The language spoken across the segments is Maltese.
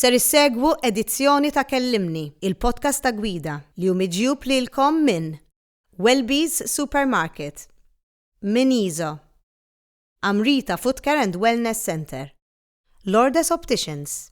Ser issegwu edizzjoni ta' Kellimni, il-podcast ta' Gwida, li hu miġjub lilkom minn Welby's Supermarket, minn Iso, Amrita Footcare and Wellness Centre, Lourdes Opticians,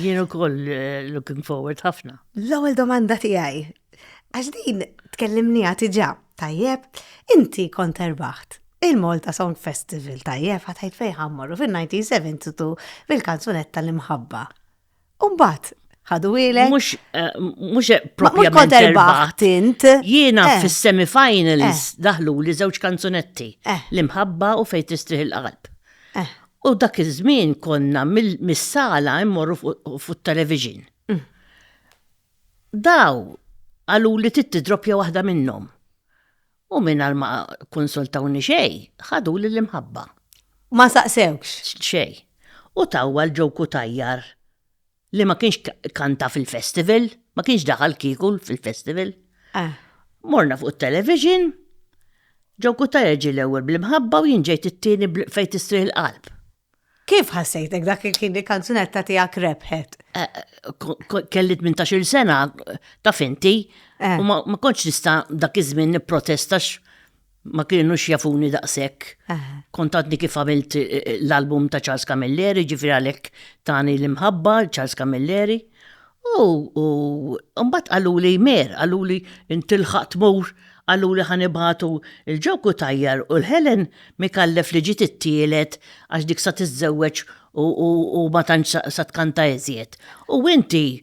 Jien ukoll eh, looking forward ħafna. L-ewwel domanda tiegħi, għax din tkellimni tiġa, tajjeb, inti kont erbaħt il-Malta Song Festival tajjeb ħatajt fejn ħammorru fil-1972 fil-kanzunetta l-imħabba. Umbat, ħadu ilek. Mux, eh, mux eh, propjament erbaħt int. Jiena eh. fis-semifinals daħlu li żewġ kanzunetti. L-imħabba u fejn tistrih il-qalb. U dak iż-żmien konna mis-sala immorru fuq television. Mm. Daw għalu li titti droppja waħda minnhom. U minn għal ma konsultawni xej, ħadu li l-imħabba. Ma saqsewx? Xej. U tawwa l-ġoku tajjar li ma kienx kanta fil-festival, ma kienx daħal kikul fil-festival. Ah. Morna fuq television, ġew kutajja ġi l-ewwel bl-imħabba u jinġejt it-tieni fejn tistrih l-qalb. Kif ħassejtek dak il-kien li kanzunetta tiegħek rebħet? Eh, eh, kelli 18 sena ta' finti eh. u ma kontx nista' dak iż-żmien nipprotestax ma kienux jafuni daqshekk. Kont għadni kif għamilt eh, eh, l-album ta' Charles Camilleri, ġifir għalhekk tani l-imħabba Charles Camilleri. U mbagħad qalu li mer, qalu li intilħaq tmur, qalu li ħanibatu il-ġoku tajjar u l-Helen mikallef li ġiet it-tielet għax dik sa tiżżewweġ u ma tantx sa tkanta iżjed. U inti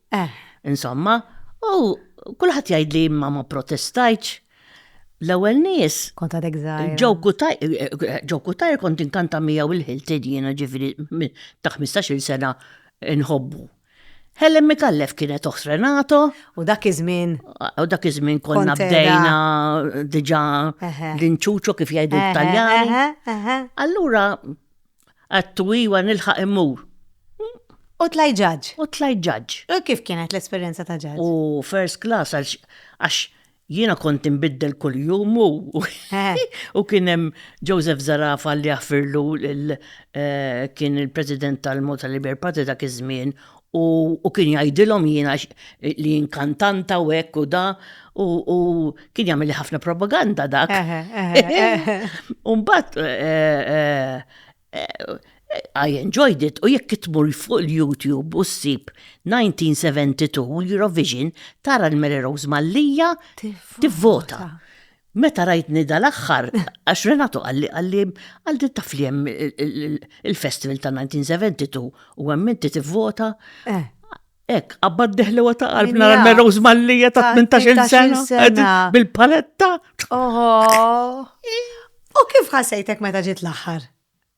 Eh, insomma, u kulħadd jgħidli imma ma protestajtx. L-ewwel nies. Kont għadek żgħir. Ġew kutajr kont inkanta miegħu il-ħiltin jiena ġifieri ta' 15-il sena nħobbu. Helen Mikallef kienet oħt Renato. U dak iż-żmien. U dak iż-żmien konna bdejna diġà l-inċuċo kif jgħidu l-Taljani. Allura Għattu iwa nilħaq immur. U tlajt ġaġġ. U tlajt ġaġġ. U kif kienet l-esperjenza ta' ġaġġ? U first class għax jiena kont inbiddel kuljum u u kien hemm Joseph Zarafa li jaħfirlu eh, kien il-President tal-Malta Liberal Party dak iż-żmien U, u kien jgħidilhom jiena x- li inkantanta u hekk u da, u, u kien jagħmel li ħafna propaganda dak. Eħe, eħe, eħe. Umbat, I enjoyed it, u jekk tmur fuq il-YouTube u ssib 1972 Eurovision, tara l-Mary Rose Mallia tivvota. Meta rajtni dal-aħħar, għax Renato qalli qalli għal din taf li hemm il-festival ta' 1972 u hemm inti tivvota. Eh. Ek, għabbad deħli għata għalb nara l-meroż mallija ta' 18 sena. Bil-paletta. Oho. U kif ħasajtek meta ġiet l-axħar?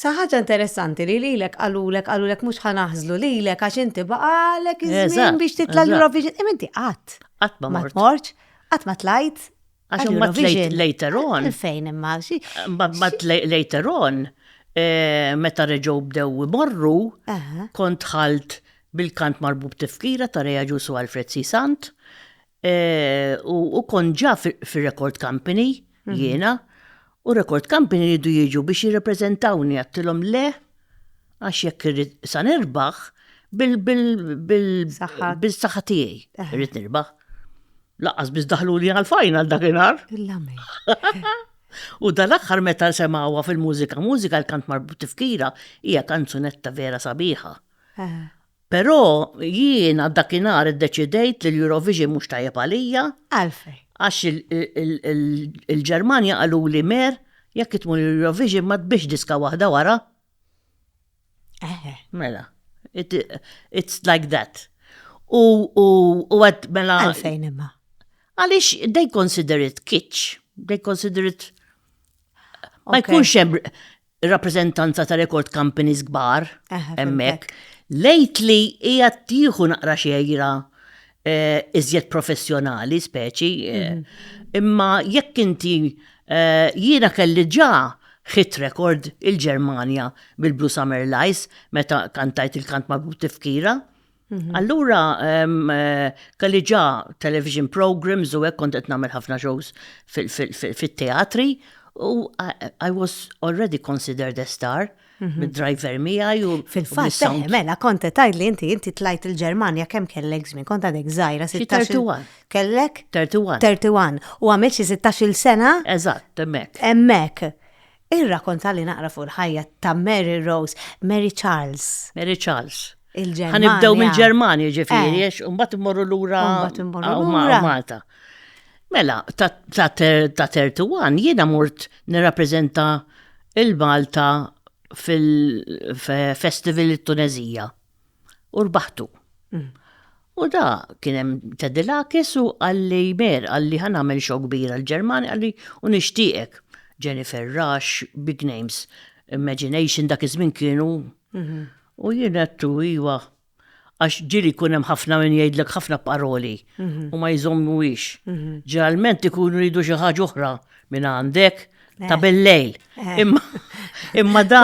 Sa ħaġa interessanti li lilek għalulek għalulek mhux ħanaħżlu lilek għax inti baqalek iż-żmien biex titla' l-Eurovision. Imma inti qatt. Qatt ma mortx. Qatt ma tlajt. Għax ma tlajt later on. Fejn imma. Ma tlajt later on. Eh, meta reġgħu bdew imorru, kont ħalt bil-kant marbub tifkira ta' Reja Ġusu Alfred C. Sant. U u kon ġa fi- fir-record company jiena, u record company jridu jiġu biex jirrepreżentawni għattilhom le għax jekk irrid sa nirbaħ bil bil bil Saħħa. bil-saħħa tiegħi Eħe. irrid nirbaħ. Laqqas biss daħluli għal-final dakinhar. Il-lame. U dal-aħħar meta semawha fil-mużika, mużika l-kant marbut tifkira hija kanzunetta vera sabiħa. Eħe. Però jiena dakinhar iddeċidejt li l-Eurovision mhux tajjeb għalija. Għalfejn? Għax il-Ġermanja qaluli Mer, jekk tmur l-Eurovision ma tbix diska waħda wara. Eħe. Mela, it's like that. U għad mela. Għalfejn imma. Għalix, they consider it kitsch. They consider it. Ma jkunx hemm. ir-rappreżentanza ta' record companies kbar hemmhekk, lejt li hija tieħu naqra xejra eh, iżjed professjonali speċi. Eh, mhm. Imma jekk inti eh, jiena kelli ġa hit record il-Ġermanja bil-Blue Summer Lies meta kantajt il-kant ma' tifkira. Mhm. Allura, kalli ġa television programs u hekk kont qed nagħmel ħafna shows fit-teatri u I was already considered a star mhm. mid-driver miegħi u fil-fatt eh, mela kont qed li inti inti tlajt il-Ġermanja kemm kellek żmien kont għadek żgħira 31. Kellek 31. 31 u għamilt xi 16-il sena? Eżatt, hemmhekk. Hemmhekk. Irrakonta li naqra fuq il-ħajja ta' Mary Rose, Mary Charles. Mary Charles. Il-Ġermanja. Ħanibdew mill-Ġermanja ġifieri, eh. għax mbagħad immorru lura Malta. Mela, ta' 31 jiena mort nirrappreżenta il-Malta fil-festival it-Tunezija. u rbaħtu. U da kien hemm Tedilakis u għalli mer għalli ħan għamel xo kbira l-Ġermani għalli u nixtieqek Jennifer Rush, big names, Imagination dak iż-żmien kienu. Mhm. U jien għattu iwa għax ġili kun hemm ħafna min jgħidlek ħafna paroli mhm. u ma jżommu ix. Mhm. Ġeneralment ikunu ridu xi ħaġa oħra minn għandek ta' eh. bil-lejl. Eh. Imma imma da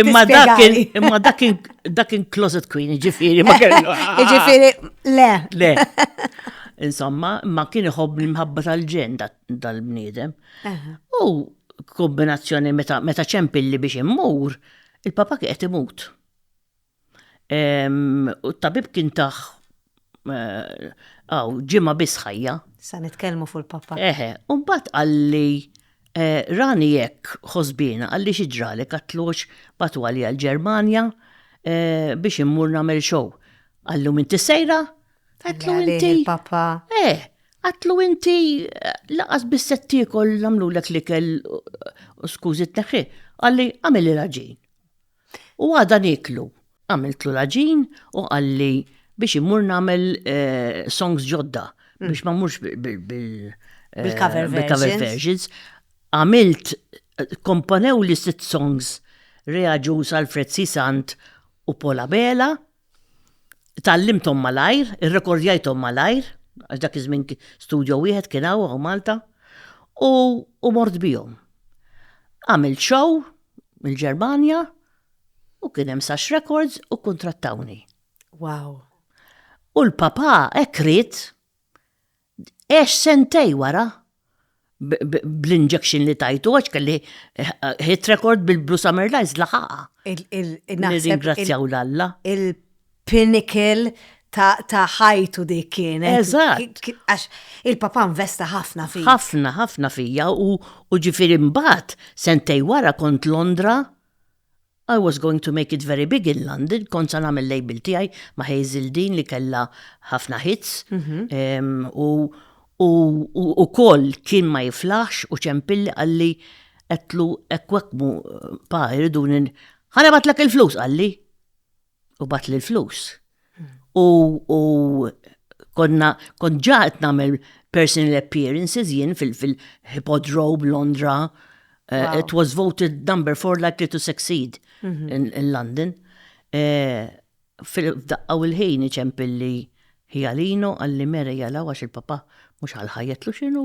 imma dak imma dak dak in closet queen ġifieri ma kellu. Ġifieri le. Le. Insomma, ma kien iħobb l-imħabba tal-ġen dal-bniedem. U kombinazzjoni meta ċempilli biex immur, il-papa kieqed imut. U t-tabib kien taħ għaw ġimma biss ħajja. Sa nitkellmu fuq il-papa. Eħe, u mbagħad qalli eh, rani jekk ħosbina qalli xi ġrali katlux batwali għal Ġermanja eh, biex immur nagħmel xow. Qallu minn tisejra? Għatlu inti. Papa. Eh, għatlu inti eh, laqas bis-set tiekol nagħmlulek li kell skużi t-neħħi. Qalli għamil il-raġin. U għada nieklu. Għamiltlu l-għaġin u qalli biex immur nagħmel songs ġodda biex ma mmurx bil-cover versions. Għamilt komponew li sitt songs reaġu sal Fred Sisant u Pola Bela. Tgħallimthom malajr, irrekordjajthom malajr, għax dak iż-żmien studio wieħed kien hawn hawn Malta, u u mort bihom. Għamilt show mill-Ġermanja u kien hemm Sax Records u kkuntrattawni. Wow! U l-papà hekk ried Għex sentej wara bl-injection li tajtu għax kelli hit record bil-Blue Summer Lights laħaqa. Nirringrazzjaw l-Alla. Il-pinnacle ta' ħajtu dik kienet. Eżatt. Għax il-papa investa ħafna fija. Ħafna, ħafna fija u ġifiri mbagħad sentej wara kont Londra I was going to make it very big in London, kont sa nagħmel label tiegħi ma' Hazel Dean li kellha ħafna hits u u ukoll kien ma jiflaħx u ċempilli qalli għedtlu hekk u hekk mhu pa jriduni ħa nibgħatlek il-flus qalli. u bat li l-flus. U, u konna, kon ġaħet namel personal appearances jien fil-Hippodrome Londra. Uh, wow. It was voted number four likely to succeed mm -hmm. in, in London. Uh, Fil-daqqa u l-ħin iċempilli ħjalino għalli mera jalaw għax il-papa mux għal-ħajetlu xinu.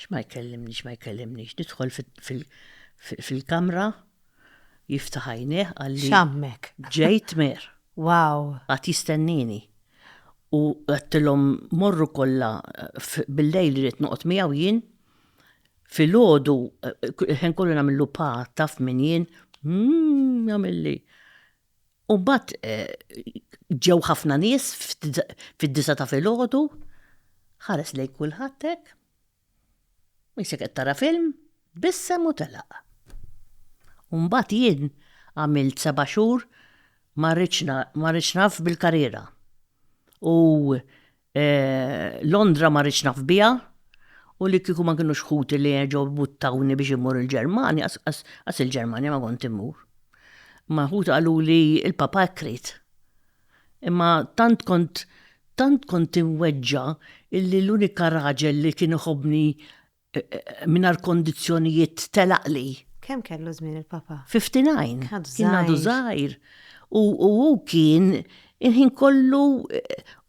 X'ma jkellimnix, ma jkellimnix. Nidħol fil-kamra, jiftaħ għajnejh għalli. X'għammek? Ġejt mer. Wow. Għad jistennini. U għattilhom morru kollha bil-lejl li rrid noqgħod miegħu jien. Fil-ħodu, ħen kollu nagħmillu pa taf min jien, mmm, jagħmilli. U mbagħad ġew ħafna nies fid-disa ta' filgħodu, ħares lejn kulħadd hekk, isek qed tara film, tbissem u telaq. U mbagħad jien għamilt seba' xhur ma rridx naf bil-karriera. U Londra ma rridx naf biha u li kieku ma kinux ħuti li erġgħu buttawni biex immur il-Ġermanja, qas il-Ġermanja ma kont immur. Imma ħuti qaluli il-papa hekk ried. Imma tant kont tant kont imweġġa' illi l-unika raġel li kien iħobbni Minar kondizzjonijiet telaqli. Kemm kellu żmien il-papa? 59. Kien għadu żgħir. U hu kien il-ħin kollu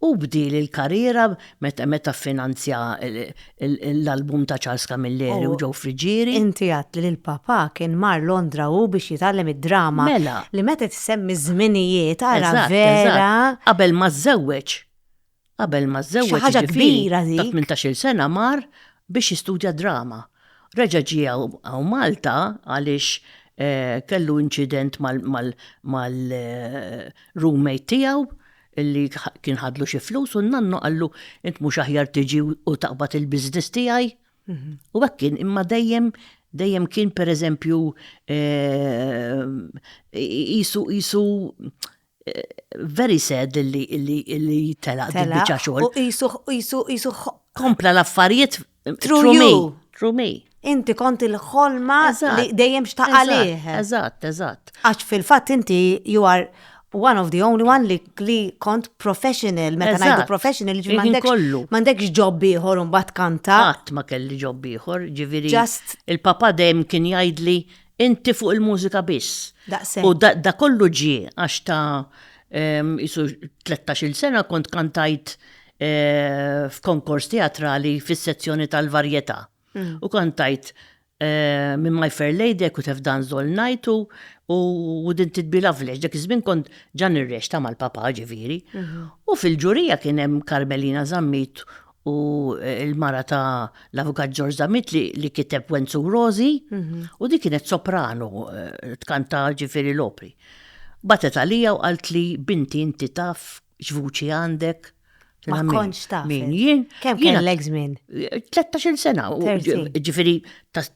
u bdil il-karriera meta meta finanzja l-album ta' Charles Camilleri u ġew friġieri. Inti għadt li l-papa kien mar Londra hu biex jitgħallem id-drama. Mela. Li meta tissemmi żminijiet ara vera. Qabel ma żżewweġ. Qabel ma żżewweġ ħaġa kbira dik. Ta' 18-il sena mar biex jistudja drama. Reġa' ġie hawn Malta għaliex eh, kellu inċident mal-roommate eh, tiegħu li kien ħadlu xi flus u n-nannu qallu int mhux aħjar tiġi u taqbad il-biznis tiegħi. Mhm. U hekk kien imma dejjem dejjem kien pereżempju eh, isu isu Very sad li li telaq din biċċa xogħol. U qisu qisu qisu kompla l-affarijiet through me. Through me. Inti kont il-ħolma li dejjem xtaqalih. Eżatt, eżatt. Għax fil-fatt inti you are one of the only one li li kont professional, meta ngħidu professional, ġifieri kollu. M'għandekx ġob ieħor u mbagħad kanta. Qatt ma kelli ġob ieħor, ġifieri. Just. Il-papa dejjem kien jgħidli Inti fuq il-mużika biss. Daqsek. U da kollu ġi għax ta' jisu 13 sena kont kantajt eh, f'konkors teatrali fis-sezzjoni tal-varjetà. Mm. U kantajt eh, minn My Fair Lady, kut have dance all night u Wouldn't It Be Lovely, dak iż-żmien kont ġan ir-rex ta' mal-papa ġifieri. Mhm. U fil-ġurija kien hemm Carmelina Zammit u l-mara ta' l-Avukat George Zamit li, li kiteb Wenzu Rosi u di kienet soprano eh, tkanta ġifiri l-opri. Batet għalija u qalt li binti inti taf x'vuċi għandek. Ma Min- konċ taf. Min jien? Kemm jiena- kellek żmien? 13 sena, u 30. ġifiri ta'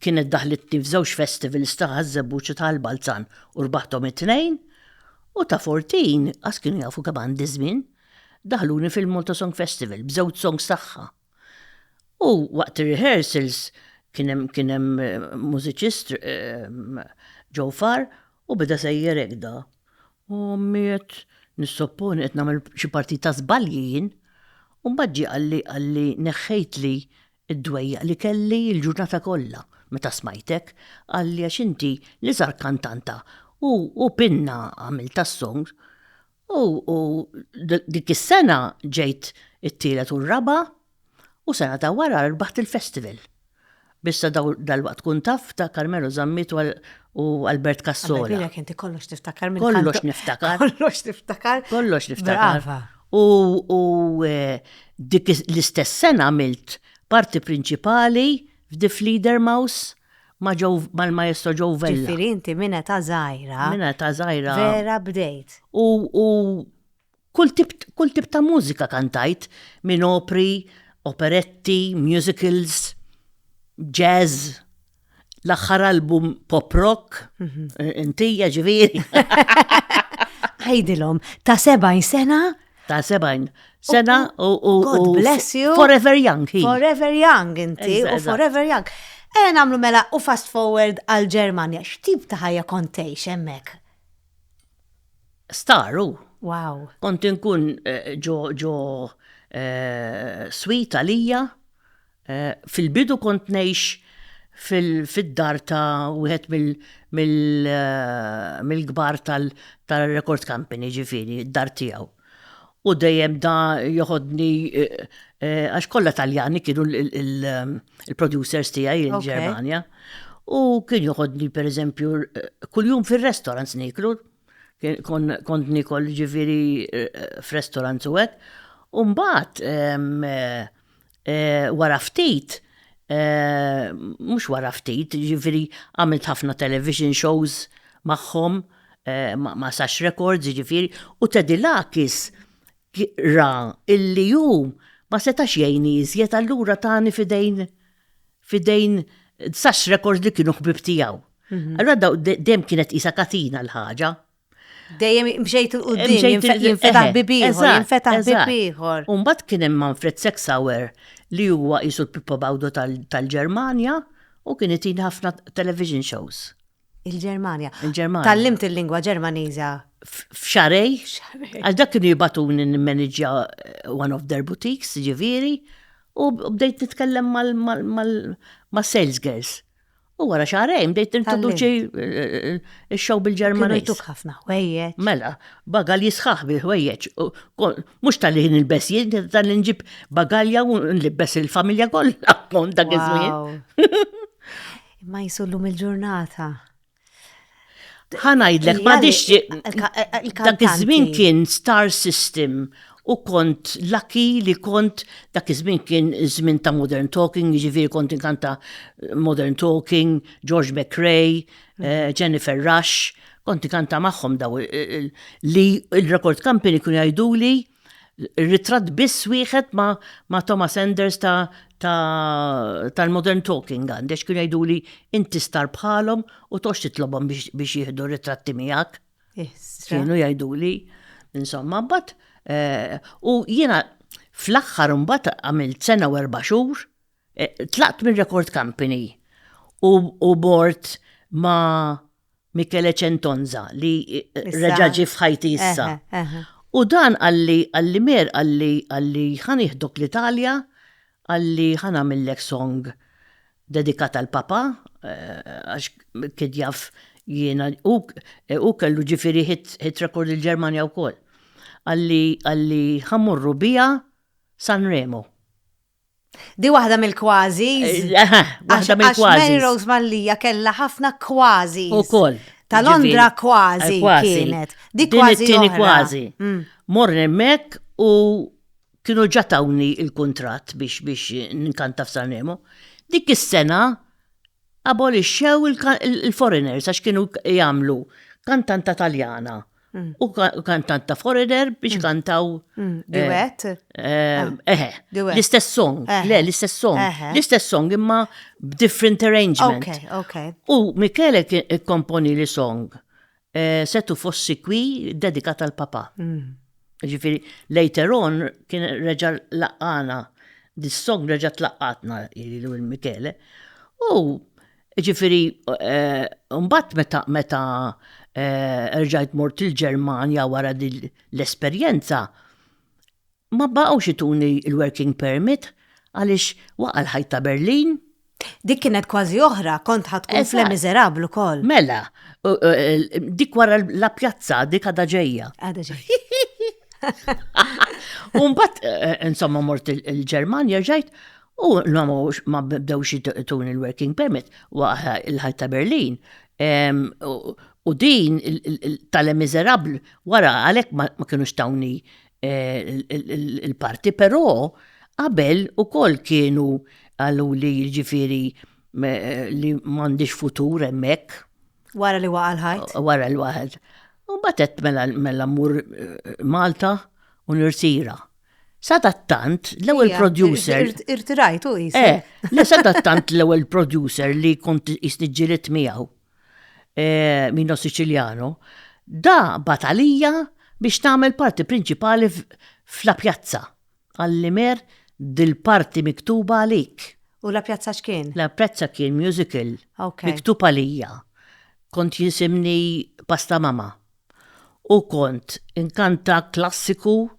kienet daħlitni f'żewġ festivals ta' Ħaż-Żebbuġ u ta' l-Balzan u rbaħthom it-tnejn, u ta' Fortin, qas kienu jafu kemm għandi żmien, daħluni fil-Malta Song Festival b'żewġ songs tagħha. U waqt ir-rehearsals kien hemm kien hemm mużiċist Joe Farr u beda sejjer hekk da. U ommi qed nissopponi qed nagħmel xi partit ta' żbalji jien. U mbagħad ġie qalli qalli neħħejtli Id-dwejjaq li kelli l-ġurnata kollha meta smajtek, qalli għax inti l-iżgħar kantanta u u binna għamiltha s-song u u dik is-sena ġejt it-tielet u r-raba' u sena ta' wara rbaħt il-festival. B'issa daw dalwaqt tkun taf ta' Carmelo Zammit u u Albert Cassola. Alla jbierak inti kollox tiftakar minn tant. Kollox niftakar. Kollox tiftakar. Kollox niftakar. Brava. U dik l-istess sena għamilt parti prinċipali f'Di Fliedermaus ma' mal-Maestro Joe Vella. Ġifieri inti minn età żgħira. Minn età żgħira. Vera bdejt. U kull tip kull tip ta' mużika kantajt minn opri, operetti, musicals, jazz. L-aħħar album pop rock, intija ġifieri. Għajdilhom, ta' 70 sena? Ta' 70 sena u. God bless you. Forever young. Forever young inti u forever young. Ejja nagħmlu mela u fast forward għal Ġermanja. X'tip ta' ħajja kontejx hemmhekk? Staru. Wow. Kont inkun eh, ġo ġo eh, swita lija Fil-bidu kont ngħix fid-dar ta' wieħed mill-kbar tar-record company, ġifieri, d-dar tiegħu. U dejjem da joħodni, għax kollha Taljani kienu l-producers tiegħi l-Ġermanja. U kien joħodni pereżempju, kuljum fir-restaurants nieklu, kont niekol ġifieri f'restaurants u hekk. U mbagħad, Wara ftit, mhux wara ftit, jiġifieri għamilt ħafna television shows magħhom, ma' Sax Records jiġifieri, u Tedilakis ra illi hu ma setax jgħinni iżjed allura tani f'idejn f'idejn Sax Records li kienu ħbieb tiegħu. Allura dejjem kienet qisha katina l-ħaġa. Dejjem mxejt il-qudiem, jinfetaħ bibiħor, jinfetaħ bibiħor. Umbat kien hemm Manfred Sexauer li huwa jisu l-Pippo Bawdo tal-Ġermanja u kien itin ħafna television shows. Il-Ġermanja. Il-Ġermanja. Tallimt il-lingwa Ġermaniża. F'xarej. Għax dak kienu jibatun n-manager eh, one of their boutiques, ġiviri, u bdejt nitkellem mal-sales girls. U wara xahrejn bdejt tintroduċi x-xogħol bil-Ġermaniż. Kienu jtuk ħafna ħwejjeġ. Mela, bagal jisħaħ bil-ħwejjeġ. Mhux tal-li jien il-bes jien, tal-li nġib bagalja u nlibbes il-familja kollha kont dak iż-żmien. Ma jisullu mill-ġurnata. Ħanajdlek, ma dix dak iż-żmien kien star system u kont lucky li kont dak iż-żmien kien żmien ta' modern talking, jiġifieri kont inkanta modern talking, George McRae, eh, Jennifer Rush, kont inkanta magħhom daw li il-record company kun jgħiduli ritratt biss wieħed ma, ma Thomas Enders ta' tal-modern ta talking għandex kienu jgħidu li inti star bħalhom u tox titlobhom biex, biex jieħdu ritratti miegħek. Kienu jgħidu li, insomma, bat, eh, u jiena fl-aħħar mbagħad għamilt sena u erba' xhur, eh, tlaqt minn record company u, u bort ma' Michele Centonza li reġa' ġi f'ħajti issa. U dan għalli għalli mer għalli għalli ħaniħdok l-Italja għalli ħanamillek song dedikata l-Papa għax kien jaf jiena u kellu ġifieri hit record il-Ġermanja wkoll. Għalli għalli ħammorru biha Sanremo. Di waħda mill-kważi. Waħda mill-kważi. Mary Rose Mallija kella ħafna kważi. U koll. Ta' Londra kważi kienet. Di kważi. Din kważi. Mm. Morni emmek u kienu ġatawni il-kontrat biex biex nkanta f'Sanremo. Dik is-sena abolixxew il-foreigners għax kienu jagħmlu kantanta taljana mm. u kantanta foreigner biex mm. kantaw. Mm. Eh, Duet? Eh, ah. Eħe. L-istess song. Eh. Le, l-istess song. L-istess song imma b'different arrangement. Ok, ok. U Michele komponi li song. Eh, setu fossi kwi dedikat għal papa. Mm. Ġifiri, later on kien reġa laqqana, this song reġa tlaqqatna il Michele. U ġifiri, eh, mbatt meta meta eh, rġajt mort il-Ġermanja wara l-esperjenza, Ma baqgħux ituni l-working permit għaliex waqa' l-ħajt ta' Berlin. Dik kienet kważi oħra, kont ħa tkun f'Le Miserable ukoll. Mela, dik wara La Piazza, dik għadha ġejja. Għadha ġejja. U mbagħad insomma mort il-Ġermanja ġejt u ma bdewx ituni l-working permit waqa' l-ħajt ta' Berlin. U din tal-Le Miserable wara għalhekk ma kinux tawni Il-parti però qabel ukoll kienu għallu li ġifiri li m'għandix futur hemmhekk. Wara li waqa' l-ħajt? Wara li waħed. U batet mela mela mmur eh, Malta u nirtira. Sadattant l-ewwel producer. Irtirajtu jisir. Eh, le sadattant l-ewwel producer li kont jisniġġilet miegħu. eh, Mino Siciliano, da bat għalija biex nagħmel parti prinċipali f'La Pjazza. Għalli mer dil-parti miktuba għalik. U La Pjazza x'kien? La Pjazza kien musical. Okay. Miktub għalija. Kont jisimni Pasta Mama. u kont inkanta klassiku,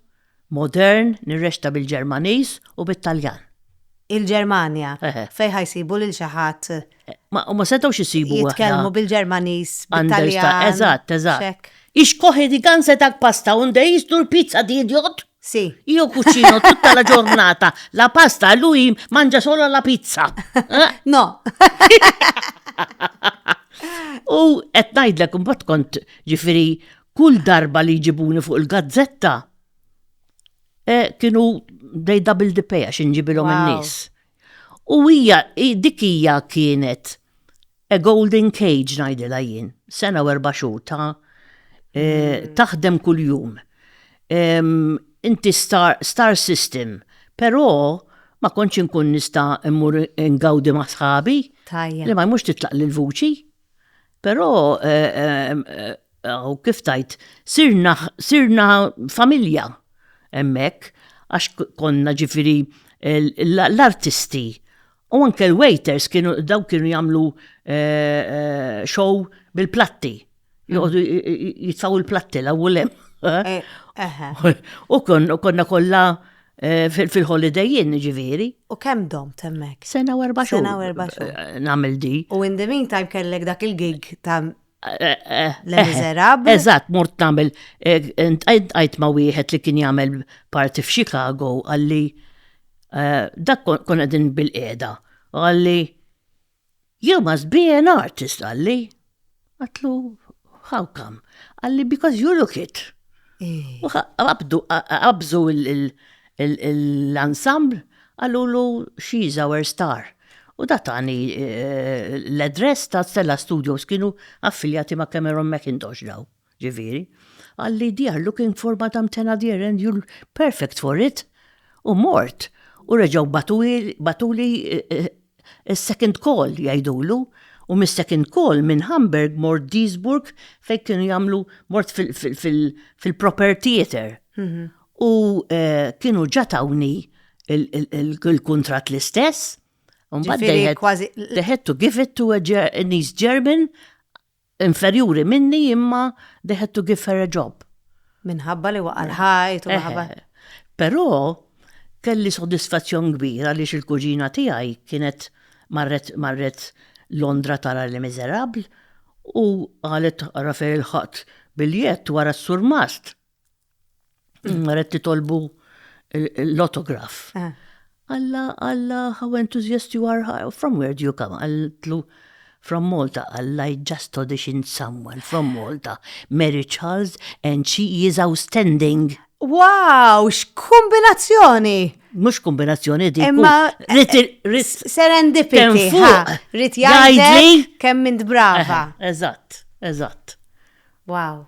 modern, nirreċta bil-Ġermaniż u bit-Taljan. Il-Ġermanja, fejn ħa jsibu lil xi ħadd. Ma huma setgħux isibu waħda. Jitkellmu bil-Ġermaniż, bit-Taljan. Eżatt, eżatt. Ix koħi di ganze dak pasta unde jisdu l-pizza di idiot? Sì. Io cucino tutta la giornata la pasta e lui mangia solo la pizza. Eh? No. U qed ngħidlek imbagħad kont ġifieri kull darba li jġibuni fuq il-gazzetta eh, kienu dej double the pay għax inġibilhom in-nies. U hija dik hija kienet A golden cage ngħidilha jien, sena u erba' xhur ta' mm. taħdem kuljum. Inti star, star system, però ma kontx inkun nista' immur ingawdi ma' sħabi. Li ma jmux titlaq lil vuċi. Però u kif tajt, sirna, sirna familja emmek, għax konna ġifiri l-artisti U anke l-waiters kienu daw kienu jagħmlu eh, eh, show bil-platti. Joqogħdu jitfaw il-platti la wulem. U konna kollha eh, fil-holiday jien ġifieri. U kemm dom temmek? Sena u erba' xhur. Sena u erba' xhur. Nagħmel di. U in the meantime kellek dak il-gig ta' Le Miserable. Eżatt, mort nagħmel għajt ma' wieħed li kien jagħmel parti f'Chicago għalli eh, dak kon qegħdin bil-qiegħda. Għalli you must be an artist għalli. Għatlu how come? Għalli because you look it. Eh. U qabżu l-ensemble għallu she's our star. U da tani l-address ta' Stella Studios kienu affiljati ma' Cameron McIntosh daw, ġiviri. Għalli they are looking for Madam Tenadier and you're perfect for it. U mort. U reġaw batuli second call jajdulu. U mis second call minn Hamburg mort Duisburg fej kienu jamlu mort fil-proper theater. U kienu ġa tawni il-kuntratt l-istess. Ġifieri kważi. They had to give it to an East German inferjuri minni imma they had to give her a job. Minħabba li waqa' l-ħajt u minħabba. Però kelli sodisfazzjon kbir għaliex il-kuġina tiegħi kienet marret Londra tara Les Misérables u qalet ara fejn ilħaqt biljett wara s-surmast. Mm, Red titolbu l-autograf. Eh. Alla, alla, how enthusiast you are, from where do you come? Għallu, from Malta, alla, I just auditioned someone from Malta, Mary Charles, and she is outstanding. Wow, x'kombinazzjoni! Mux kombinazzjoni di. Imma. Eh, serendipity. Rit jgħidli kemm mint brava. Eżatt, eżatt. Wow.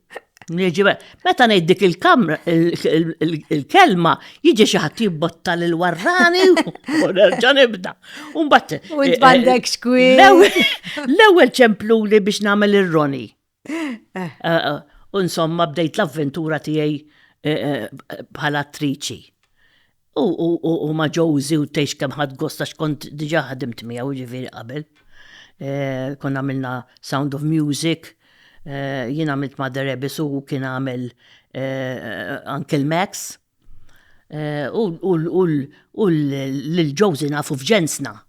Meta ngħid dik il-kamra, il-kelma, jiġi xi ħadd jibbotta lil warrani u nerġa' nibda. U mbagħad. U eh, tbandek eh, xkwi. L-ewwel ċempluli biex nagħmel ir-roni. Eh, u insomma bdejt l-avventura tiegħi bħala attriċi. U, u, u, u ma Josie u tgħix kemm ħadd gost għax kont diġà ħadimt miegħu ġifieri qabel. Eh, konna għamilna Sound of Music, eh, jien għamilt ma' The Rebis u kien għamel eh, Uncle Max. Eh, u l-ġozi nafu f'ġensna,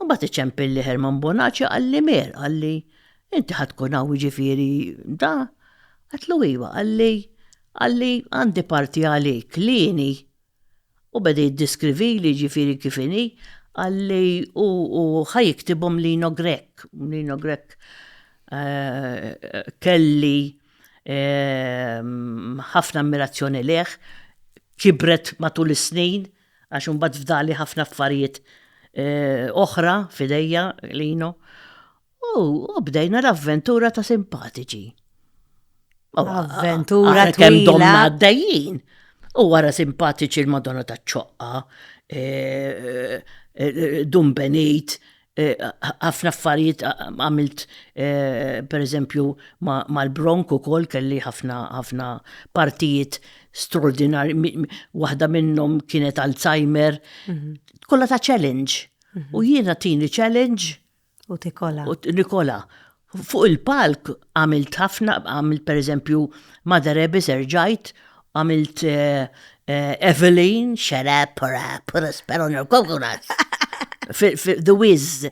Imbagħad iċempilli Herman Bonaċi qalli Mier, qalli, inti ħa tkun hawn jiġifieri da? Għedtlu iva, qalli, qalli għandi parti għalik, lieni. U beda jiddiskrivili jiġifieri kif inhi, qalli u u ħa jiktibhom Lino Grech, Lino Grech kelli ħafna ammirazzjoni lejh, kibret matul is-snin, għax imbagħad fdali ħafna affarijiet oħra f'idejja lino. U bdejna l-avventura ta' simpatiċi. Avventura twila. Kemm domna għaddejjin. U wara simpatiċi l-Madonna ta' ċoqqa, Dun Benit, Eh, ħafna affarijiet għamilt eh, per eżempju mal-bronk u kol kelli ħafna ħafna partijiet straordinari, waħda minnhom kienet Alzheimer, mhm. kollha ta' challenge. Mhm. U jiena tini challenge u tikola. U nikola. Fuq il-palk għamilt ħafna, għamilt per eżempju Mother Abbess erġajt, għamilt eh, eh, Evelyn, shut up, put a, put a spell on your coconuts. The Wiz.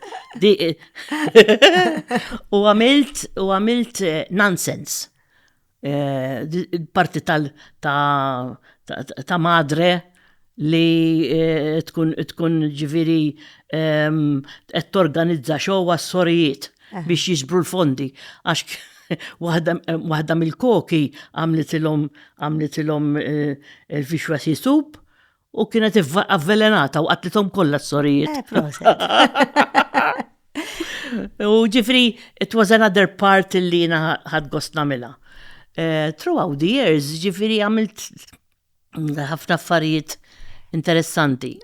U għamilt, u għamilt eh, Nonsense. eh, parti tal ta, ta, ta madre li eh, tkun tkun ġifiri ehm, qed torganizza xow għas-sorijiet eh. biex jiġbru l-fondi għax waħda mill-koki għamlitilhom għamlitilhom il-vixwa sisub U kienet avvelenata u qatlithom kollha s-sorijiet. Eh, proset. U ġifri, it was another part li jina ħad gost namila. Eh, throughout the years, ġifri għamilt ħafna affarijiet interessanti.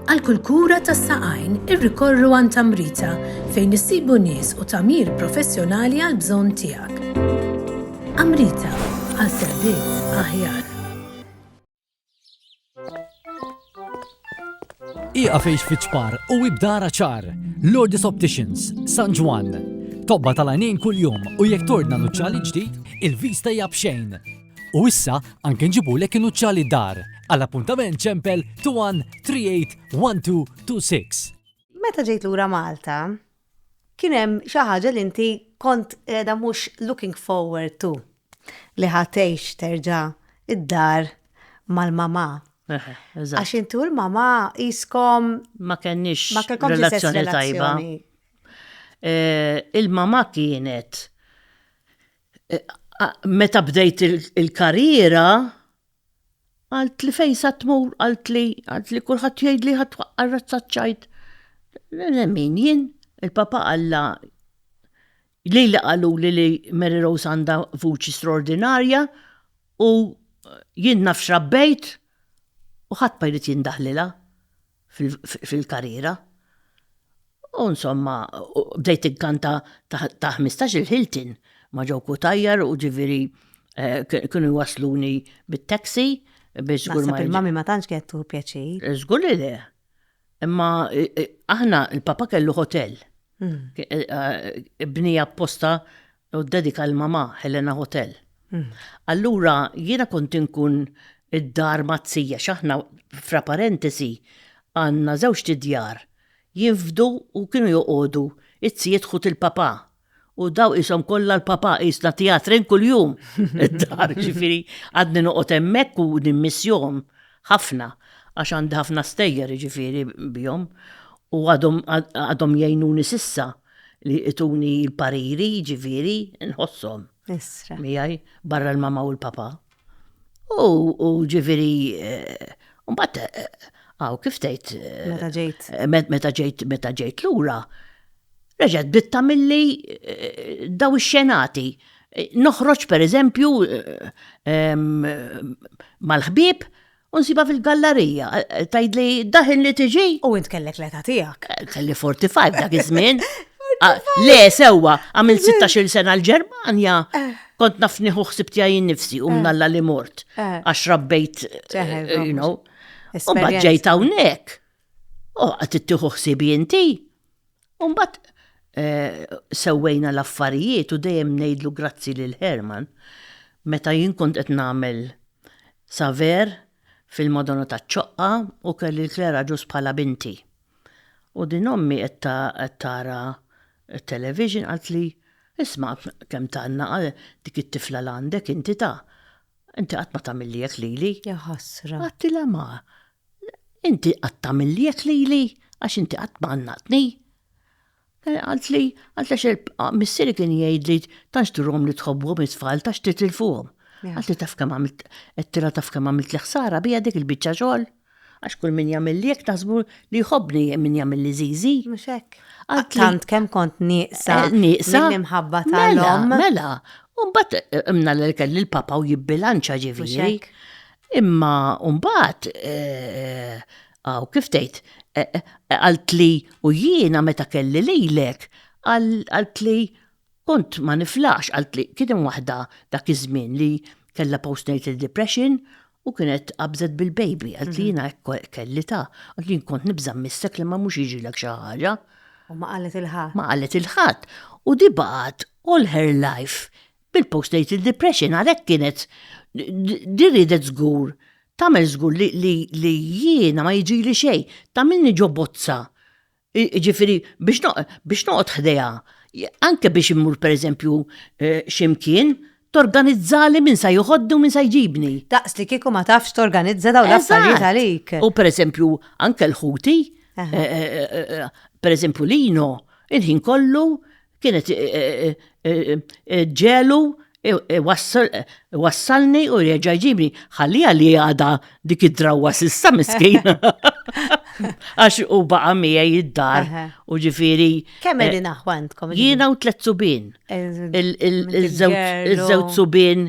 Għal kull kura tas-saqajn irrikorru għan tamrita fejn issibu nies u tamir professjonali għal bżonn tiegħek. Amrita għal servizz aħjar. Iqa fejx fiċpar u ibdara ċar. Lourdes Opticians, San Ġwan. Tobba tal-għajnejn kull-jum u jek tordna nuċċali ġdid, il-vista hija bxejn. U issa anke nġibulek nuċċali dar. Għall-appuntament ċempel 21 32 26. Meta ġejt lura Malta, Kien hemm xi ħaġa li inti kont qiegħda mhux looking forward to li ħa tgħix terġa' d-dar mal-mamà. Eħe, eżatt. Għax inti u l-mamà qiskom Ma kenniex ma kellkomx l-istess relazzjoni tajba. relazzjoni. Eh, Il-mamà kienet eh, a- meta bdejt il- il-karriera Għalt li fejn sa tmur, għalt li, għalt li kulħadd jgħid li ħadd waqqa' razza ċajt. Min jien, il-Papa Alla li li qalu li li Mary Rose għandha vuċi straordinarja u jien naf x'rabbejt u ħadd ma jrid jindaħlilha. fil-karriera. U insomma, bdejt inkanta ta' 15 il-Hilton ma' ġew kutajjar u ġifieri eh, kienu jwasluni bit-taxi biex żgur ma. Il-mami ma tantx kienet tuħu pjaċir. Eh, żgur li le. Imma eh, eh, aħna il-papa kellu hotel. Hmm. Bnija apposta u ddedika għal mamà, Helena Hotel. Allura jiena kont inkun id-dar mat-tzi għax aħna, fra parentesi, għandna żewġt idjar, jinfdu u kienu joqogħdu t-tzijiet ħut il-papà u daw qishom kollha l-papà, qisna tjatrin kuljum id-dar, jiġifieri għadni noqgħod hemmhekk u nimmissjhom ħafna għax għandi ħafna stejjer jiġifieri bihom u għadhom għadhom jgħinuni s'issa. li ituni l-pariri, jiġifieri, nħossom. Isra. Miegħi, barra l-mama u l-papa. U ġifieri, eh, mbagħad eh, għaw kif tgħid. Eh, meta ġejt. Meta ġejt, meta ġejt lura. Reġgħet bitta milli daw ix-xenati. Noħroġ pereżempju mal-ħbieb U nsiba fil-gallerija, eh, tajd li daħin li tiġi. U int kellek l-età tiegħek. Eh, kelli 45 dak iż-żmien. Ah, le, sewwa, għamil 16 sena l-Ġermanja. Eh. Kont nafni ħuħsib tiegħi nifsi u mnalla li mort. Għax rabbejt, you know. U bħadġajt hawnhekk. U għat ittieħu ħsibi inti. U mbagħad sewwejna l-affarijiet u dejjem ngħidlu grazzi lil Herman meta jien kont qed nagħmel saver fil-Madonna taċ-Ċoqqa u kelli l-Claire Agius bħala binti. U din ommi qed tara t-television qaltli, Isma' kemm tgħanna dik it-tifla l-għandek inti ta'. Inti qatt ma tagħmilli hekk lili. Jaħasra! Għedtilha ma, Inti qatt tagħmilliek lili għax inti qatt ma għannaqtni. Għalt li, għalt għax il-missieri kien jgħid li tanx turhom li tħobbhom it-tfal tax titilfuhom. Għalt li taf kemm għamilt tira taf kemm għamilt li ħsara bija dik il-biċċa xogħol. Għax kull min jagħmilliek taħsbu li jħobbni min jagħmilli żiżi. Mhux hekk. Għalt tant kemm kont nieqsa. Eh, nieqsa. L-imħabba mela, tal-om. Mela, mela. Umbat eh, imna l-kelli l-papa u jibbilanċa ġifieri. Imma mbagħad aw kif tgħid qaltli u jiena meta kelli lilek qaltli kont ma niflaħx qaltli kien hemm waħda dak iż-żmien li kellha postnatal depression u kienet qabżet bil-baby qaltli jiena hekk kelli ta. Qaltli jien kont nibża' missek li ma mhux jiġilek xi ħaġa. U ma qalet 'il ħadd. Ma qalet 'il ħadd. U di baqgħet all her life Bil-postnatal depression għalhekk kienet di ridet żgur tagħmel żgur li jiena ma jiġili xejn, tagħmilni ġo bozza. Ġifieri biex noqgħod ħdejha, anke biex immur pereżempju eh, x'imkien, torganizzali minn sa joħoddu minn sa jġibni. Daqs li kieku ma tafx torganizza daw l-affarijiet għalik. U pereżempju anke l-ħuti, eh, eh, pereżempju lino, il-ħin kollu Kienet ġelu wassalni u reġa ġibni. Ħalli li għada dik id-drawa sissa miskin. Għax u baqa mija id-dar u ġifiri. Kemm li eh, naħwantkom? Jiena u tlet subin. Il-żewġ subin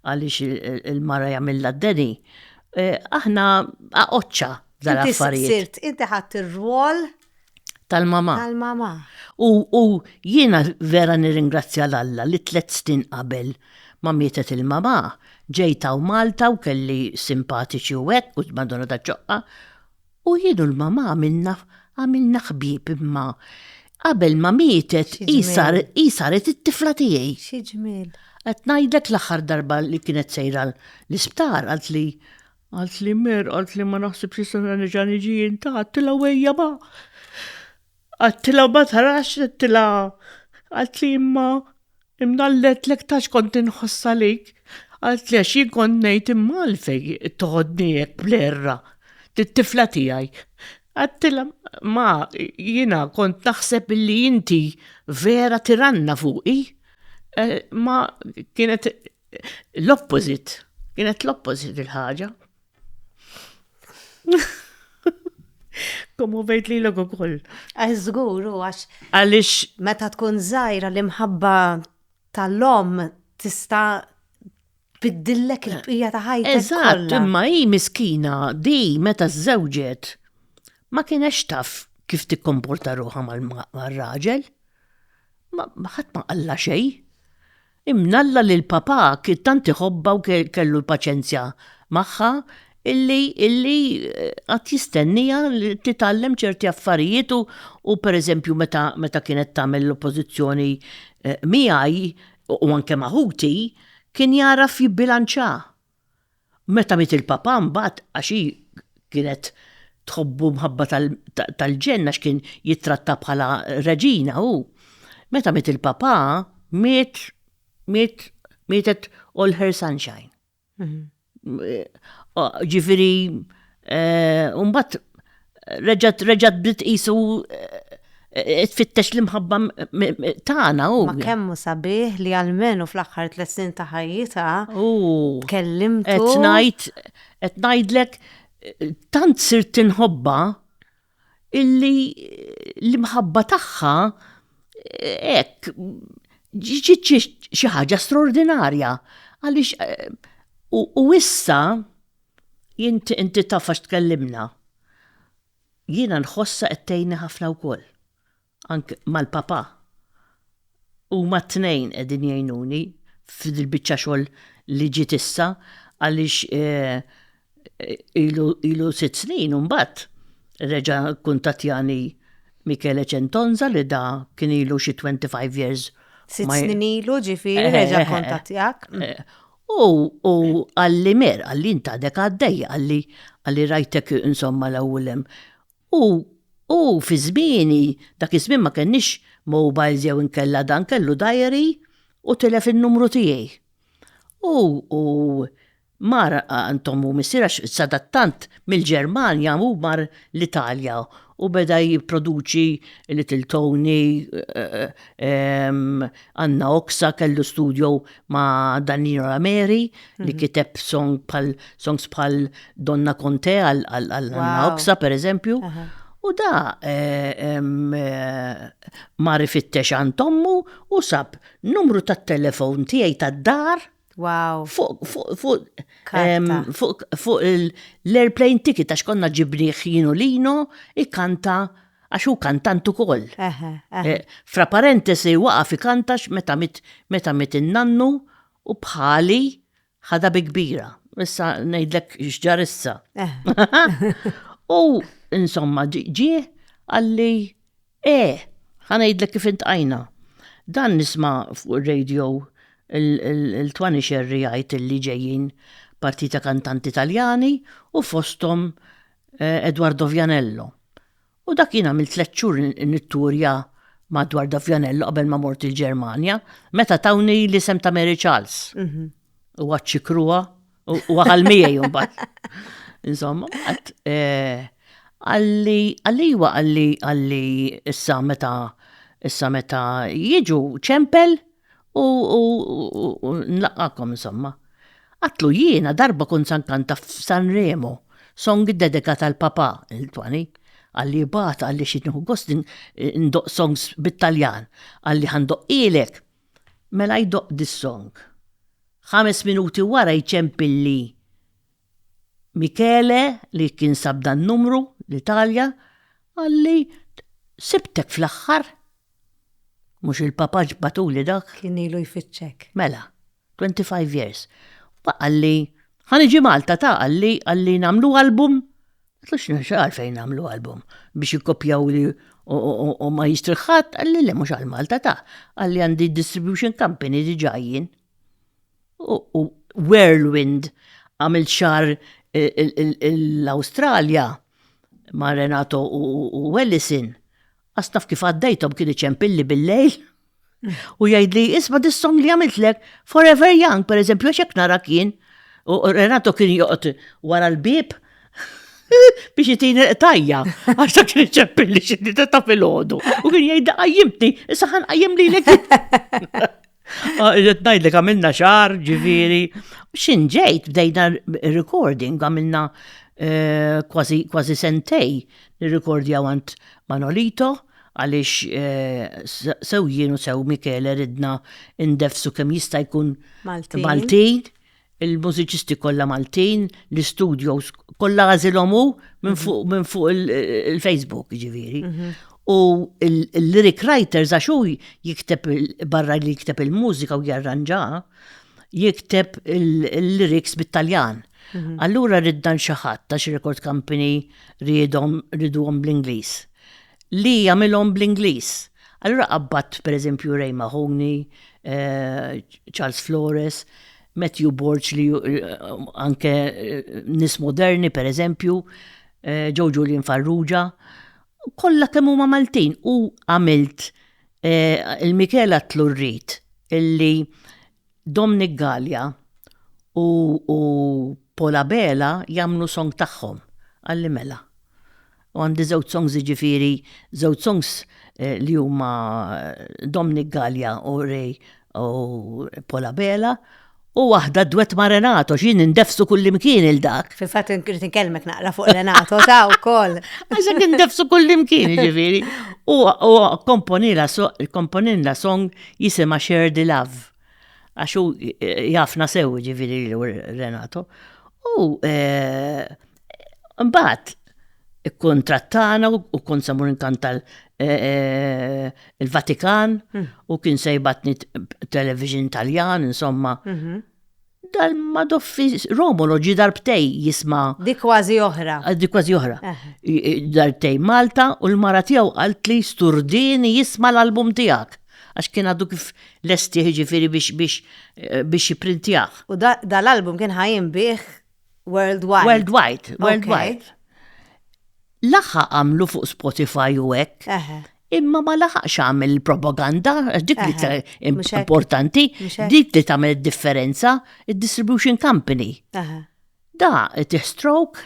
għaliex il-mara jagħmilha d-deni, aħna aqoċċa dal-affarijiet. Sirt, inti ħadd ir-rwol tal-mama. Tal-mama. U jiena vera nirringrazzja l-Alla li tliet snin qabel ma mietet il-mama, ġejta u Malta u kelli simpatiċi u hekk u madonna ta' ċoqqa. U jien u l-mamà għamilna għamilna ħbieb imma qabel ma mietet hi hi saret it-tifla tiegħi. Xi ġmiel. Qed ngħidlek l-aħħar darba li kienet sejra l-isptar qalt li qalt li mer qalt li ma naħsibx se nerġa' niġi jien ta' għattilha u ejja ma. Għattila ma tarax għattila għalt li imma imnallet lek tax kont inħoss għalik. Għalt li għax jien kont ngħid imma għalfej toħodni hekk blerra. Tit-tifla tiegħi. Għattila ma jiena kont naħseb li inti vera tiranna fuqi. Eh, ma kienet l-opposit. Kienet l-opposit il-ħaġa. Komu vejt li l-logo koll. Għazgur, u għax. Għalix. Meta tkun zaħira l-imħabba tal-lom tista biddillek il-bqija ta' ħajta. Eżatt, imma hi miskina di meta żewġet ma kienex taf kif tikkomporta ruħa mal-raġel. Ma ħadd ma qalla xejn. Imnalla li l-Papà kien tant iħobbha u kellu l-paċenzja magħha illi illi qatt jistenniha li titgħallem ċerti affarijiet u u pereżempju meta meta kienet tagħmel l-oppożizzjoni miegħi u anke ma' ħuti kien jagħraf jibbilanċa. Meta miet il-Papa mbagħad għax hi kienet tħobbu mħabba tal-ġenn għax kien jittratta bħala reġina hu. Meta miet il-Papa miet miet mietet all her sunshine. Ġifieri Umbat reġat reġat bdiet qisu tfittex l-imħabba tagħna u. Ma kemmu sabiħ li għalmenu fl-aħħar tliet snin ta' ħajjitha. U. Tkellimtu. Qed ngħid qed ngħidlek tant sirt tinħobba. illi l-imħabba tagħha hekk ġiet xi ħaġa straordinarja għaliex u issa inti inti taf għax tkellimna jiena nħossha qed tgħinni ħafna wkoll. anke mal-Papa, huma t-tnejn qegħdin jgħinuni f'dil-biċċa xogħol li ġiet issa għaliex ilu sitt snin u mbagħad reġa' kkuntattjani Michele Centonza li da kien ilu xi twenty five years Sitt snin ilu ġifieri reġa' kkuntattjak. U qalli Mer, qalli int għadek għaddej, qalli rajtek insomma l-ewwel hemm. U, u fi żmieni, dak iż-żmien ma kellniex mobiles jew inkella dan kellu diary u tilef in-numru tiegħi. U, u mar għand omm u missier għax sadattant mill-Ġermanja hu mar l-Italja u beda jipproduċi Little Tony, Anna Oxa kellu studio ma' Danilo Rameri li mhm. kiteb song pal songs pal Donna Conte għal Anna Oxa per eżempju. U da eh, eh, mar ifittex għand tommu u sab numru tat-telefon tiegħi tad-dar Wow. Fuq, fuq, fuq, fuq, fuq l-airplane ticket għax konna ġibriħ jinu lino, ikkanta għax hu kantant ukoll. Eh, fra parentesi waqaf ikantax meta mit meta mit innannu u bħali ħada bi kbira. Issa ngħidlek x'ġar issa. Eh. U insomma ġie għalli Eh! Ħa ngħidlek kif intqajna. Dan nisma' fuq ir-radio l-Twani Scerri jgħid li ġejjin parti ta' kantanti Taljani u fosthom eh, Edwardo Vianello. U dak jien għamilt tliet xhur nitturja ma' Edwardo Vianello qabel ma mort il-Ġermanja, meta tawni l-isem ta' Mary Charles. Huwa ċ-ċikrua. U għal miegħi jumbat. Insomma, għat eh, għalli għalli għalli għalli issa meta issa meta jiġu ċempel u nlaqqakom insomma. Għatlu jiena darba kun sankanta f'San Remo, song dedika tal-papa il-twani, għalli bat għalli xitnu gostin ndoq songs bit-Taljan, għalli għandoq ilek Mela jdoqq dis-song. Ħames minuti wara jċempilli Michele li kien sab dan-numru, l-Italja, qalli, Sibtek fl-aħħar! Mhux il-papaġġ bagħtuli dak? Kien ilu jfittxek. Mela, 25 years. Huwa qalli, Ħa niġi Malta ta, qalli, qalli nagħmlu album Tlux nirxa għalfejn għamlu album biex jikkopjaw li u ma jistri ħadd għalli li mhux għal Malta ta' għalli għandi distribution company diġà jien. U Whirlwind għamil xar l-Awstralja ma' Renato u Ellison Għas naf kif għaddejtom kien iċempilli bil-lejl u jgħidli isma' dis-song li għamiltlek Forever Young, per eżempju, għax hekk nara kien u Renato kien joqgħod wara l-bib biex jitini tajja, għax ta' kien ċeppilli xiddi ta' fil-ħodu. U kien jgħidda għajjimtni, saħan għajjem li l Ah, irrid ngħidlek għamilna xar, ġifieri. X'in ġejt bdejna recording għamilna eh, kważi sentej nirrekordja għand Manolito għaliex eh, sew jien u sew Michele ridna indefsu kemm jista' jkun Maltin. il-mużiċisti kollha Maltin, l-istudios kollha għażilhom hu minn fuq minn fuq il-Facebook ġifieri. Mhm. U l-lyric writers għax hu jikteb barra li jikteb il-mużika u jarranġa, jikteb il-lyrics bit-Taljan. Mhm. Allura riddan xi ħadd ta' xi record company ridhom ridhom bl-Ingliż. li jagħmilhom bl-Ingliż. Allura qabbadt pereżempju Ray Mahoney, Charles Flores, Matthew Borg li anke nies moderni pereżempju, Joe Julian Farrugia, kollha kemm huma Maltin u għamilt il-Michela Tlurrit illi Domnic Galea u u Paul Abela jagħmlu song tagħhom għalli mela. U għandi żewġ songs jiġifieri żewġ songs li huma Domnic Galea u Ray u Paul Abela u waħda dwett ma' Renato xi nindefsu kullimkien il dak. Fil-fatt irid inkellmek naqra fuq Renato ta' wkoll. Għax qed nindefsu kullimkien jiġifieri. U komponilna song jisimha Share the Love, għax hu jafna sew jiġifieri Renato, u eh, mbagħad ikkontrattana u kont samur inkanta eh, eh, il-Vatikan hmm. u kien sejbatni television Taljan, insomma. Mhm. Dal madoffi Romolo ġi darbtej jisma. Di kważi oħra. Ah, di kważi oħra. Eh. Darbtej Malta u l-mara tiegħu qalt li sturdini jisma l-album tiegħek. Għax kien għadu kif lesti ġifiri biex biex eh, biex jiprintjah. U dal-album kien ħajin bih worldwide. Worldwide, worldwide. Laħaq għamlu fuq Spotify u hekk. Imma ma laħaqx għamil propaganda, dik li importanti, dik li tagħmel differenza, id-distribution company. Da tiħstrok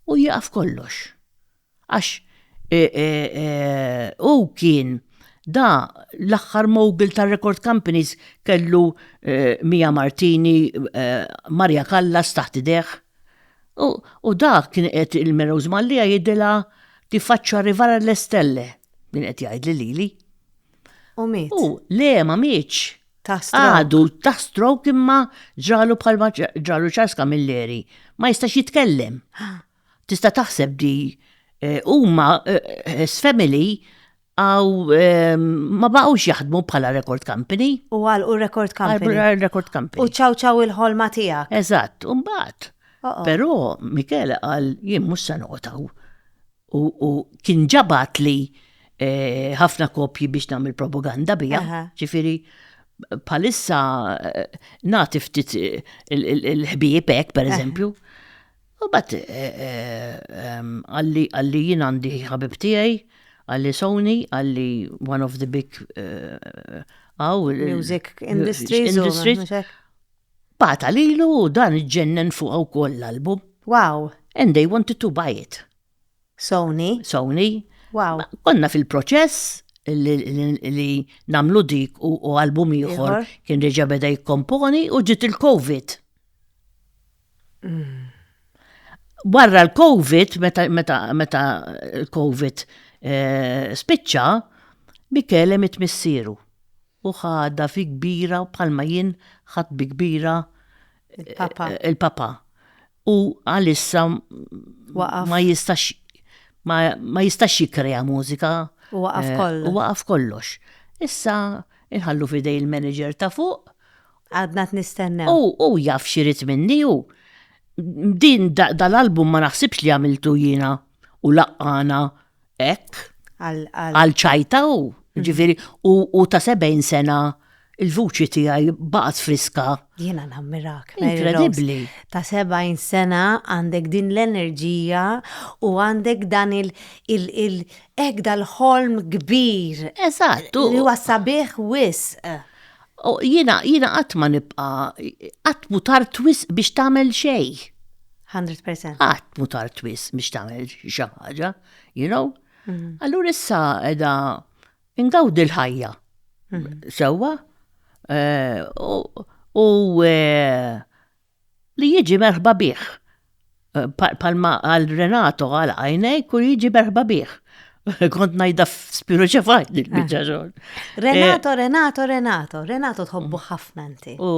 u jaqaf kollox. Għax e, e, e, u kien da l-axħar mogul ta' record companies kellu Mia Martini, Maria Callas taħt ideħ. U, u dak kien qed il-Merows Mallia jidilha tiffaċċa rivara le stelle, kien qed jgħidli lili. U miet. U le ma mietx. Ta' stroke. Għadu ta' stroke imma ġralu bħalma ġralu Charles Camilleri. Ma jistax jitkellem. Tista' taħseb di eh, huma eh, his family Aw ehm, ma baqgħux jaħdmu bħala record company. U għal u record company. Għal record company. U ċaw ċaw il-ħolma tiegħek. Eżatt, u mbagħad. Però Michele qal jien mhux se noqgħodhaw. U kien ġabat li eh, ħafna kopji biex nagħmel propaganda bija. Ġifieri palissa eh, nagħti ftit eh, il-ħbieb hekk pereżempju. U bat għalli għalli jien għandi ħabib tiegħi, għalli Sony, għalli one of the big għaw. Music industries. Bat għalilu dan ġennen fuq għaw koll l-album. Wow. And they wanted to buy it. Sony. Sony. Wow. Konna fil-proċess li namlu dik u album ieħor kien reġa' beda jikkomponi u ġiet il-COVID. Mm. Barra l-COVID, meta l-COVID eh, spiċċa, Michele mit missieru u ħada fi kbira bħalma jien ħadd bi kbira il-papa. U għalissa ma jistax ma jistax jikrea mużika. U waqaf eh, kollox. U waqaf kollox. Issa inħallu fidej il-manager ta' fuq. Għadna t-nistenna. U u jaf xirit minni u din dal-album ma naħsibx li għamiltu jina u laqqana Hekk, għal ċajta hu, mm. ġifieri u ta' 70 sena il-vuċi tiegħi baqgħet friska. Jiena nammirak. Inkredibbli. Ta' 70 sena għandek din l-enerġija u għandek dan il- il- dal-ħolm kbir. Eżattu. Li huwa sabiħ wisq. O, jiena, jiena qatt ma nibqa, qatt mu tar twis biex tagħmel xej. 100%. Qatt mu tar twis biex tagħmel xi ħaġa, you know? Mhm. Allura issa edha ingawdi l-ħajja. Mhm. Sewwa? Eh, u eh, Li jiġi merħba bih. Palma għal Renato għal għajnejk u jiġi merħba bih. Kont najda spiru ċefajt li bieċa ah. xogħol. Renato, eh, Renato, Renato, Renato tħobbu mm. ħafna inti. U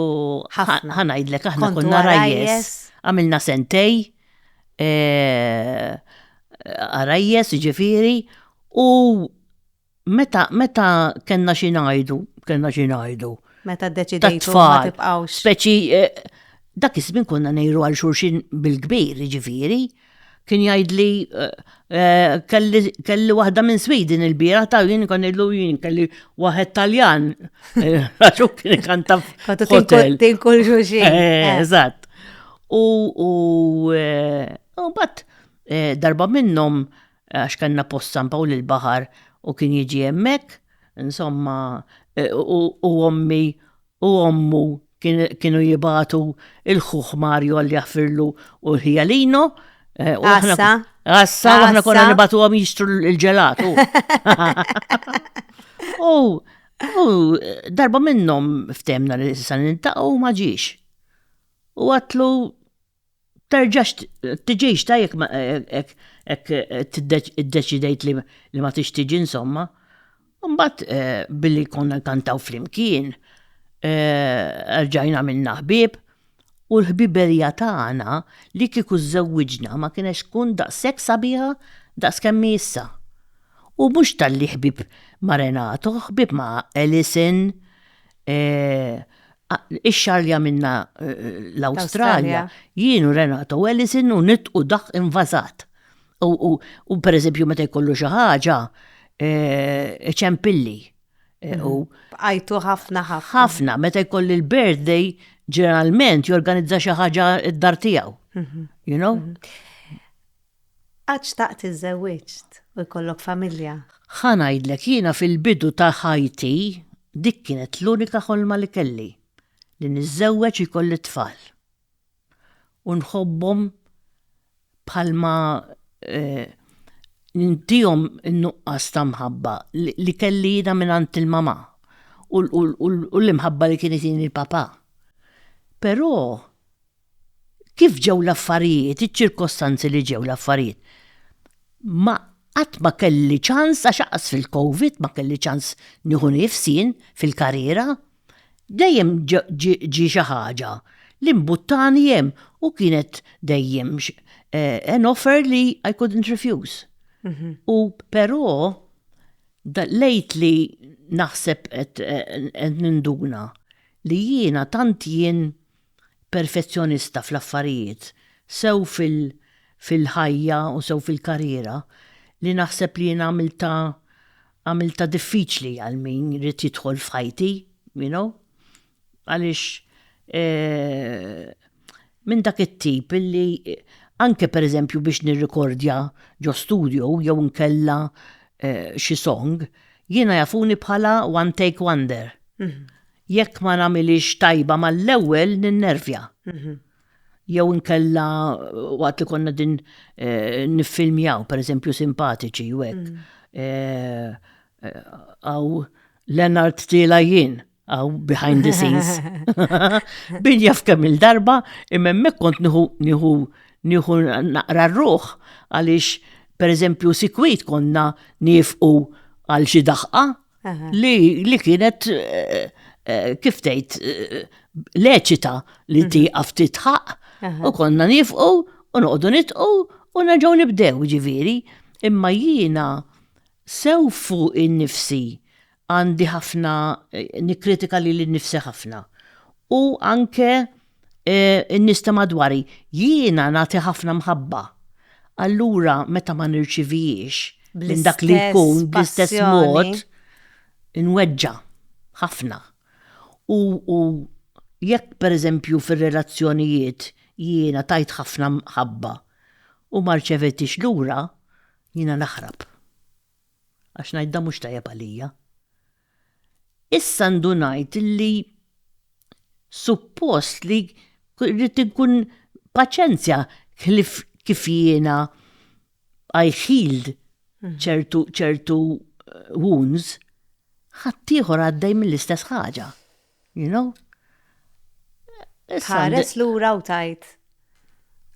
ħanajdlek aħna konna rajjes. Għamilna sentej. Eh, rajjes ġifiri. U Meta, meta kellna xi ngħidu, kellna xi ngħidu. Meta ddeċidejtu ma tibqgħux. Speċi eh, dak iż-żmien konna ngħidu għal xulxin bil-kbir, jiġifieri. Kien jgħidli eh, eh, kelli, kelli waħda minn Sweden il-bira ta' jien kon ngħidlu jien kelli waħed Taljan. Raġu kien kanta f'hotel. Tinkun xulxin. Eżatt. U u bat darba minnhom għax kellna post San Pawl il-Baħar u kien jiġi hemmhekk, insomma, u ommi u ommu kienu jibatu il-ħuħ Mario għalli jaħfirlu u l-ħijalino. Għassa. Għassa, u għahna konna nibatu għom jistru il-ġelatu. U U darba minnom ftemna li s-san intaqaw maġiex. U għatlu terġax tiġix ta' jekk id-deċidejt li ma tix tiġi insomma. Mbagħad eh, billi konna nkantaw flimkien, eh, rġajna minna ħbieb u l-ħbiberija tagħna li kieku żżewwiġna ma kienx tkun daqshekk sabiħa daqs kemm hi issa. U mhux talli ħbieb ma' Renato, ħbieb ma' Alison, Ix-xahar li għamilna l-Awstralja, jien u Renato Ellison u nitqu daħq invasat. U per eżempju meta jkollu xi ħaġa, iċempilli. Bqajtu ħafna ħafna. Ħafna, meta jkolli l-birthday, ġeneralment jorganizza xi ħaġa d-dar tiegħu. You know? Qatt xtaqt li żewwiġt u jkollok familja? Ħa ngħidlek, jiena fil-bidu ta' ħajti dik kienet l-unika ħolma li kelli, li niżżewweġ u jkolli t-tfal. U nħobbhom bħalma nintihom in-nuqqas ta' mħabba li kelli jiena mingħand il-mamà u l-imħabba li kien itini l-papà. Però Kif ġew l-affarijiet, iċ-ċirkostanzi li ġew l-affarijiet, ma qatt ma kelli ċans għax anqas fil-Covid ma kelli ċans nieħu nifs jien fil-karriera. Dejjem ġie xi ħaġa li mbuttani hemm u kienet dejjem an offer li I couldn't refuse. U però lately naħseb qed ninduna li jiena tant jien perfezzjonista fl-affarijiet, sew fil fil-ħajja u sew fil-karriera, li naħseb li jien għamiltha għamiltha diffiċli għal min ried jidħol f'ħajti, you know, għaliex minn dak it-tip illi anke pereżempju biex nirrikordja ġo studio jew inkella xi song, jiena jafuni bħala one take wonder. Jekk ma nagħmilhiex tajba mal-ewwel ninnervja. Jew inkella waqt li konna din eh, niffilmjaw, pereżempju simpatiċi u hekk. Mm. Eh, għaw Leonard Tila jien għaw behind the scenes. Bin jaf kemm il-darba, imemmek kont niħu niħu niħu naqra ruħ għaliex per eżempju sikwit konna nifqu għal xi daħqa li, li kienet eh, eh, kif tgħid eh, leċita li mhm. tieqaf titħaq u konna nifqu u noqogħdu nitqu u nerġgħu nibdew ġifieri. Imma jiena sew fuq in-nifsi għandi ħafna nikritika li l-nifsi ħafna. U anke in-nies ta' madwari, jiena nagħti ħafna mħabba. Allura meta ma nirċivihiex minn dak li jkun bl-istess mod, inweġġa' ħafna. U jekk pereżempju fir-relazzjonijiet jiena tajt ħafna mħabba u ma rċevejthiex lura, jiena naħrab. Għax ngħid dan mhux tajjeb għalija. Issa għandu ngħid li suppost li rrid inkun paċenzja ħlif kif jiena I healed ċertu ċertu wounds, ħaddieħor għaddej mill-istess ħaġa. You know? Tħares lura u tajt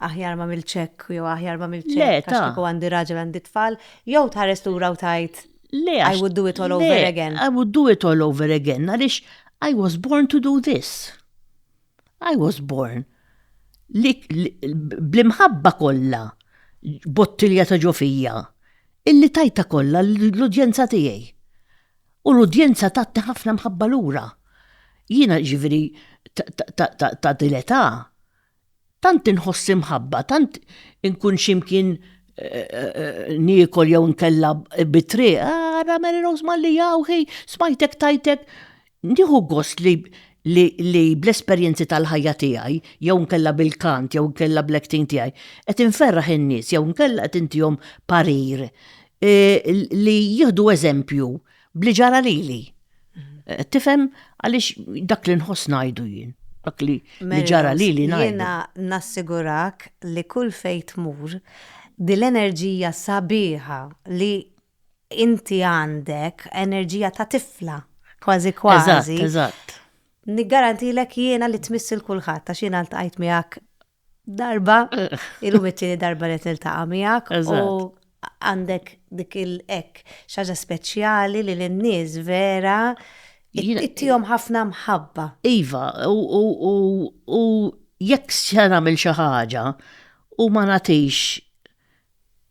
aħjar ma mil-ċek, jew aħjar ma mil-ċek, Le, ta. għax għandi raġel għandi tfal, jew tħares lura u tajt Le, I would do it all over again. I would do it all over again, għaliex I was born to do this. I was born li bl-imħabba kollha bottilja ta' ġofija illi tajta kollha l-udjenza tiegħi. U l-udjenza tatti ħafna mħabba lura. Jiena ġifieri ta' din l-età tant inħoss imħabba, tant inkun x'imkien niekol jew inkella bit-triq, ara Mary Rose Malli hawn hi, smajtek tgħid hekk. Nieħu gost li li bl-esperjenzi tal-ħajja tiegħi jew inkella bil-kant jew inkella bl-acting tiegħi qed inferraħ in-nies jew inkella qed intihom parir e, li jieħdu eżempju bli ġara lili. E, tifhem għaliex dak li nħoss ngħidu jien. Dak li ġara lili ngħidu. Jiena nassigurak li kull fejn tmur dil-enerġija sabiħa li inti għandek enerġija ta' tifla, kważi kważi. Eżatt, eżatt. Niggarantilek jiena li tmiss il-kulħadd għax jiena ltqajt miegħek darba, illum it-tieni darba li niltaqa' miegħek u għandek dik il-ek xaġa speċjali li l-nies vera ittihom ħafna mħabba. Iva, u jekk se nagħmel xi ħaġa u ma nagħtix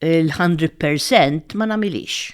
il-100% ma nagħmilix.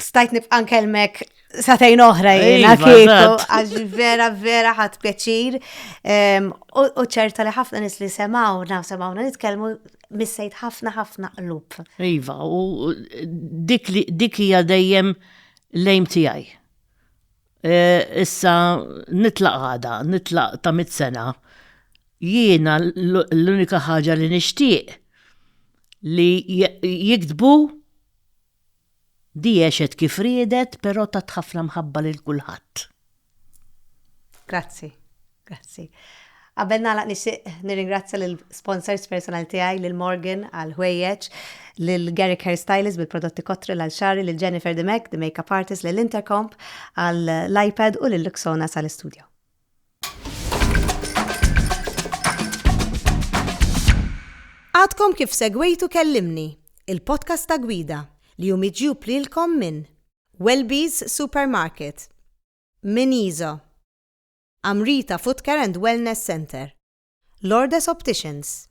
Stajt nibqa' nkellmek satejn oħra jiena iva, kieku għax vera vera ħadd pjaċir. U ċerta li ħafna nis li semaw, naw semawna nitkellmu missejt ħafna ħafna qlub. Iva, u dik hija dejjem lejm tiegħi. E, issa nitlaq għada, nitlaq ta' mit sena. Jiena l-unika ħaġa li nixtieq li jiktbu Di għexet kif riedet pero tat ħafna mħabba lil kulħadd. Grazzi. Grazzi. Qabel nagħlaq nixtieq nirringrazzja lil sponsors personal tiegħi lil Morgan għal ħwejjeġ, lil Garrick Hair Stylist bil-prodotti Cotril għal xagħri, lil Jennifer Dimech, the makeup artist, lil Intercomp għal l-iPad u lil Luxona sal-istudio. Għadkom kif segwejtu kellimni, il-podcast ta' gwida li hu miġjub lilkom minn Welby's Supermarket, minn Izo, Amrita Footcare and Wellness Center, Lourdes Opticians,